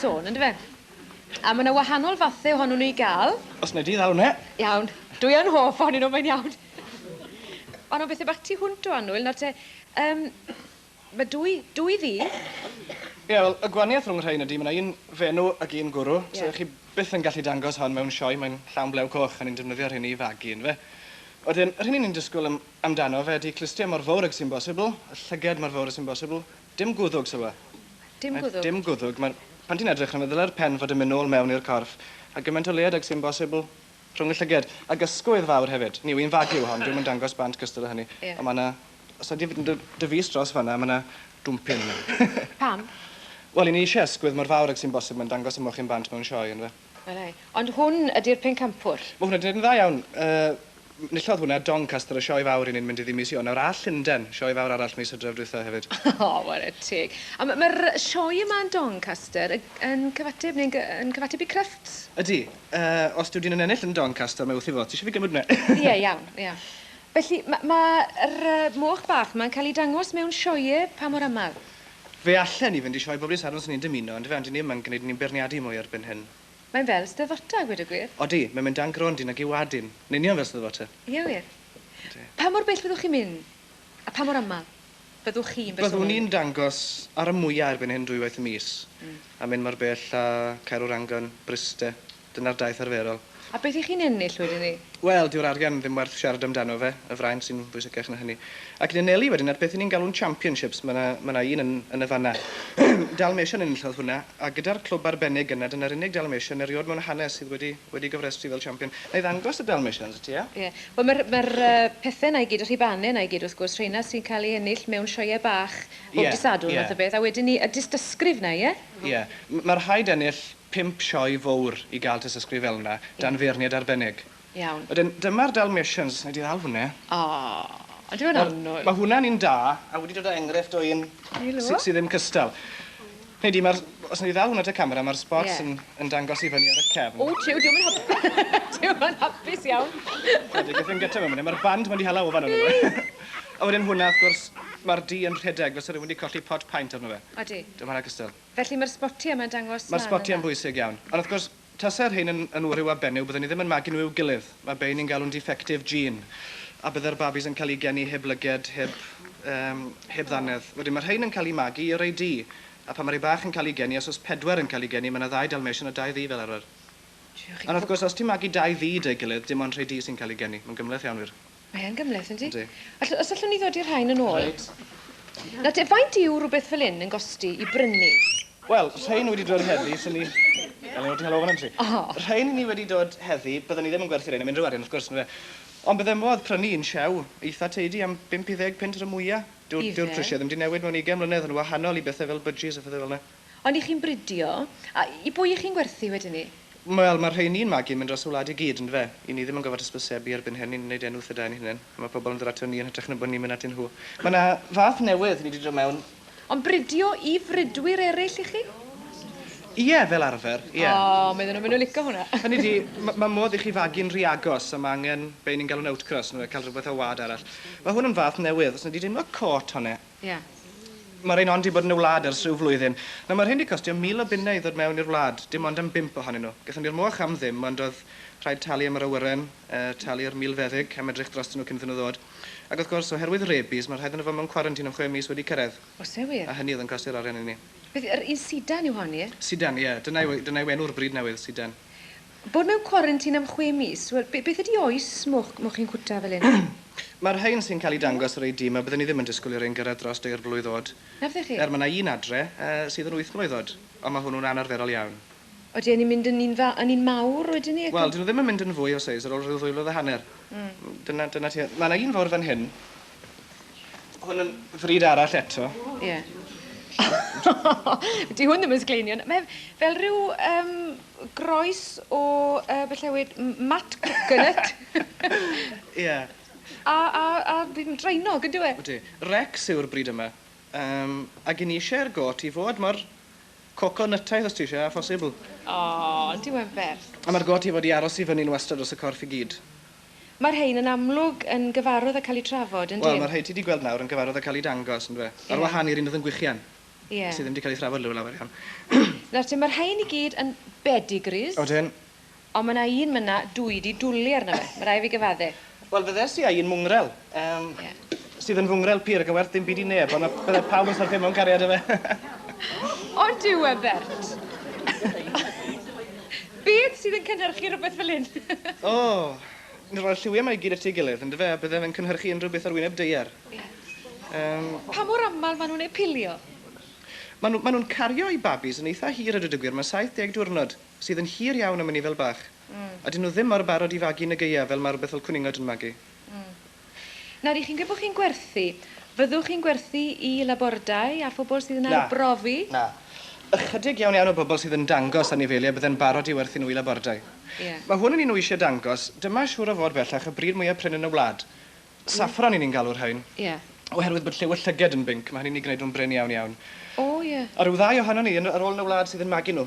sôn, on'd yfe? A ma' 'na wahanol fathe ohonyn nw i ga'l. Os wnai di ddal wnna. Iawn. Dwi yn hoff ohonyn nw, mae'n iawn. O na, beth ambat ti hwnt o annwyl, nawr te, yym, ma' dwy, dwy ddu. Ie, wel, y gwanieth rhwng y rhein ydi ma' 'na un fenw ag un gwrw, so Ie. chi byth yn gallu dangos hon mewn sioe, mae'n llawn blew coch a ni'n defnyddio rheini i fagu, yndyfe? Wedyn, yr hyn 'yn ni'n disgwl am- amdano fe ydi clustiau mor fowr ag sy'n bosibl, y llyged mor fowr a sy'n bosibl, Dim gwddwg, Sylwe. Dim gwddwg? Dim gwddwg. Mae'r... Pan ti'n edrych arno fe, ddylai'r pen fod yn mynd nôl mewn i'r corff, a gymaint o leied ag sy'n bosibl, rhwng y llyged. Ac ysgwydd fawr hefyd. Ni yw hi'n fag yw hon, dyw hi'm yn dangos bant gystal â hynny. Ie. Ond mae yna... Os ydy fy dy- dy fys dros fan'na, mae yna dwmpyn yna. Pam? Wel, 'yn ni isie ysgwydd mor fawr ag sy'n bosibl, mae'n dangos y mochyn bant mewn sioe, yndyfe? Wele. Ond hwn ydi'r pencampwr. Mae hwnna'n dweud yn dda iawn. Yy, nillodd hwnna Doncaster y Sioe Fawr i ni'n mynd iddi mis Ionawr. Nawr all Llundain, Sioe Fawr arall mis Hydref dwytha hefyd. O, ware teg. A ma, ma'r sioe yma yn Doncaster y- yn cyfateb neu'n gy- yn cyfateb i Crufts? Ydi. Yy, os dyw dyn yn ennill yn Doncaster, mae wrth ei fodd. Ti eisiau fi gymryd hwnna? Ie, iawn, ie. Felly, ma, ma yr, yy, moch bach 'ma'n cael ei dangos mewn sioeau pa mor aml? Fe allen ni fynd i sioe bob dydd Sadwrn os 'yn ni'n dymuno, yndyfe, ond 'yn ni ddim yn gwneud 'yn ni'n beirniadu mwy erbyn hyn. Mae'n fel Steddfota, a gweud y gwir. Odi, mae'n mynd dan grond i nag i'w wad yn. Yn union fel Steddfota. Ie wir. Odi. Pa mor bell fyddwch chi'n mynd? A pha mor aml? Byddwch chi yn bersonol yn mynd? Byddwn i'n dangos ar y mwya' erbyn hyn dwywaith y mis, a mynd mor bell â Caerwrangon, Bryste. Dyna'r daith arferol. A beth 'y chi'n ennill wedyn 'ny? Wel, dyw'r arian ddim werth siarad amdano fe, y fraint sy'n bwysicach na hynny. Ac yn anelu wedyn at beth 'yn ni'n galw'n championships, ma' 'na, ma' 'na un yn, yn y fan 'na. Dalmatian enillodd hwnna, a gyda'r clwb arbennig yna, dyna'r unig Dalmatian eriod mewn hanes sydd wedi, wedi gofrestru fel champion. Nai ddangos y Dalmatians i ti, ia? Ie. Wel, ma'r, ma'r pethe 'na i gyd, y rhubanne 'na i gyd, wrth gwrs, rheina sy'n cael eu ennill mewn sioeau bach bob dydd Sadwrn fath o beth, a wedyn 'ny y dystysgrif 'na, ie? Ie. M- ma' rhaid ennill Pump sioe fowr i gael tystysgrif fel yna, dan feirniad arbennig. Iawn. Wedyn, dyma'r Dalmatians, wna i di ddal hwnna. O, odi fe'n annwyl? Mae hwnna'n un da, a wedi dod o enghraifft o un sy ddim cystal. Hynny di, mae'r, os wna i ddal hwnna at y camera, mae'r spots yn, yn dangos i fyny ar y cefn. O, tiw, diom yn hap- diom yn hapus iawn. Ydy, gallwn gyta fe mwn, mae'r band ma'n di hala ofan arno fe. A wedyn hwnna, wrth gwrs, mae'r du yn rhedeg, fel se rhywun di colli pot paent arno fe. Odi. Dyma hwnna cystal. Felly mae'r sbotiau yma'n dangos lan yna? Mae'r sbotiau'n bwysig iawn. Ond wrth gwrs, tase'r rhein yn yn wryw a benyw, byddwn i ddim yn magu nhw i'w gilydd. Mae bei ni'n galw'n defective gene. A bydde'r babis yn cael eu geni heb lyged, heb, yym, heb ddannedd. Wedyn, mae rhein yn cael eu magu i rei du. A phan mae rei bach yn cael eu geni, os oes pedwar yn cael eu geni, mae yna ddau Dalmatian a dau ddu fel arfer. Ond wrth gwrs, os ti'n magu dau ddu 'da'i gilydd, dim ond rhei du sy'n cael eu geni. Mae'n gymhleth iawn, wir. Mae yn gymhleth, yndi? Yndi. All- os allwn ni ddodi rhain yn ôl. Reit. Nawr te, faint yw rhywbeth fel hyn yn gosti i brynu? Wel, rhein wedi dod heddi, swn i... Wel, ni wedi hel ofn am ti. O! Rhein ni wedi dod heddi, bydden ni ddim yn gwerthu rhein am unrhyw arian, wrth gwrs, yndyfe? Ond bydde modd prynu un siew eitha teidi am bump i ddeg punt ar y mwya. Dyw... Ife? ...dyw'r prisiau ddim 'di newid mewn ugain mlynedd, yn wahanol i bethe fel budgies a phethe fel 'na. Ond i chi'n bridio, a i bwy i chi'n gwerthu wedyn 'ny? Wel, mae'r rheini yn magu yn mynd dros y wlad i gyd, yndyfe? I ni ddim yn gorfod hysbysebu erbyn hyn, ni'n wneud enw wrth y dain ein hunain, a mae pobl yn dod aton ni yn hytrach na bod ni'n mynd atyn nhw. Mae 'na fath newydd wedi dod mewn. Ond bridio i fridwyr eraill i chi? Ie, fel arfer, ie. O, medden nhw, maen nhw'n lico hwnna! Hynny ydi, ma', mae modd i chi fagu'n rhy agos, a mae angen be' ni'n galw'n outcross, yndyfe, cael rhywbeth o wlad arall. Mae hwn yn fath newydd, os wnei di deimlo cot honno. Ie. Mae'r rhein hon 'di bod yn y wlad ers rhyw flwyddyn. Nawr, mae'r rhein 'di costio mil o bunnau i ddod mewn i'r wlad, dim ond am bump ohonyn nhw. Gaethon ni'r moch am ddim, ond oedd rhaid talu am yr awyren, yy, talu'r milfeddyg am edrych drostyn nhw cyn iddyn nhw ddod. Ac wrth gwrs, oherwydd rabies, mae rhaid iddo fo mewn cwarantîn am chwe mis wedi cyrraedd. Oes e wir? A hynny oedd yn costio'r arian i ni. Beth, yr un sidan yw hon, ie? Sidan, ie. Dyna yw, dyna yw enw'r brid newydd, sidan. Bod mewn cwarantin am chwe mis? Wel, be- beth ydy oes moch, moch chi'n cwta fel hyn? Mae'r rhain sy'n cael eu dangos ar eu dim a bydden ni ddim yn disgwyl i rhain gyrraedd dros dair blwydd oed. Na fyddech chi? Er mae 'na un adre, yy, sydd yn wyth mlwydd oed, ond mae hwnnw'n anarferol iawn. Odi, a ni'n mynd yn un fa- yn un mawr wedyn 'ny ac yn... Wel, 'dyn nhw ddim yn mynd yn fwy o seis ar ôl rhyw ddwy flwydd a hanner. Mm. Dyna, dyna tua... Mae 'na un fawr fan hyn. Hwn yn fryd arall eto. Ie. Di hwn ddim yn sgleinion. Mae fel rhyw um, groes o uh, beth llewyd mat coconut. Ie. yeah. A, a, a fi'n drainog yn dweud. Ydy. Rex yw'r bryd yma. Um, ac yn eisiau'r got i fod mor coconutaidd os ti eisiau, a phosibl. O, oh, diw'n werth. A mae'r got i fod i aros i fyny'n wastad dros y corff i gyd. Mae'r rhain yn amlwg yn gyfarwydd â cael eu trafod, yn dyn? Wel, mae'r rhai ti 'di gweld nawr yn gyfarwydd â cael eu dangos, yndyfe? Ie. Ar wahân i'r un oedd yn gwichian. Ie. Sydd ddim 'di cael ei thrafod law- lawer iawn. Nawr te, mae'r rhain i gyd yn bedigris. Odyn. Ond mae 'na un myna dwi 'di dwli arno fe, ma' rai' fi gyfadde. Wel, fyddes i â un mwngwrel. Yym... Ie. ...sydd yn fy ngwrel-pi ar y gywer dim byd i neb ond ma' bydde pawb yn syrthio mewn cariad 'da fe. Ond yw e, Bert? Beth sydd yn cynhyrchu rwbeth fel 'yn? O! Ni'n rhoi'r lliwie 'ma i gyd at ei gilydd, yndyfe, a bydde fe'n cynhyrchu unrhyw beth ar wyneb daear. Ie. Yym... Pa mor amal ma' nw'n eu pilio? Ma' nw ma' nw'n cario eu babis yn eitha hir a dweud y gwir ma' 70 diwrnod, sydd yn hir iawn am ynni fel bach. Hmm. A 'dyn nw ddim mor barod i fagu yn y Gaea fel ma' rwbeth fel cwningod yn magu. Mm. Nawr, i chi'n gweud bod chi'n gwerthu, fyddwch chi'n gwerthu i labordai a phobl sydd yn Na. arbrofi? Na. Ychydig iawn iawn o bobl sydd yn dangos anifeiliaid bydde'n barod i werthu nhw i labordai. Ie. Mae hwn yn un wysie dangos, dyma siŵr o fod bellach y brid mwya prin yn y wlad. Saffron y'n ni'n galw'r rhain. Ie. Oherwydd bod lliw y llyged yn binc, mae hynny'n 'u gwneud nhw'n brin iawn iawn. O, ie. A rhyw ddau ohonon ni yn, ar ôl yn y wlad sydd yn magu nhw.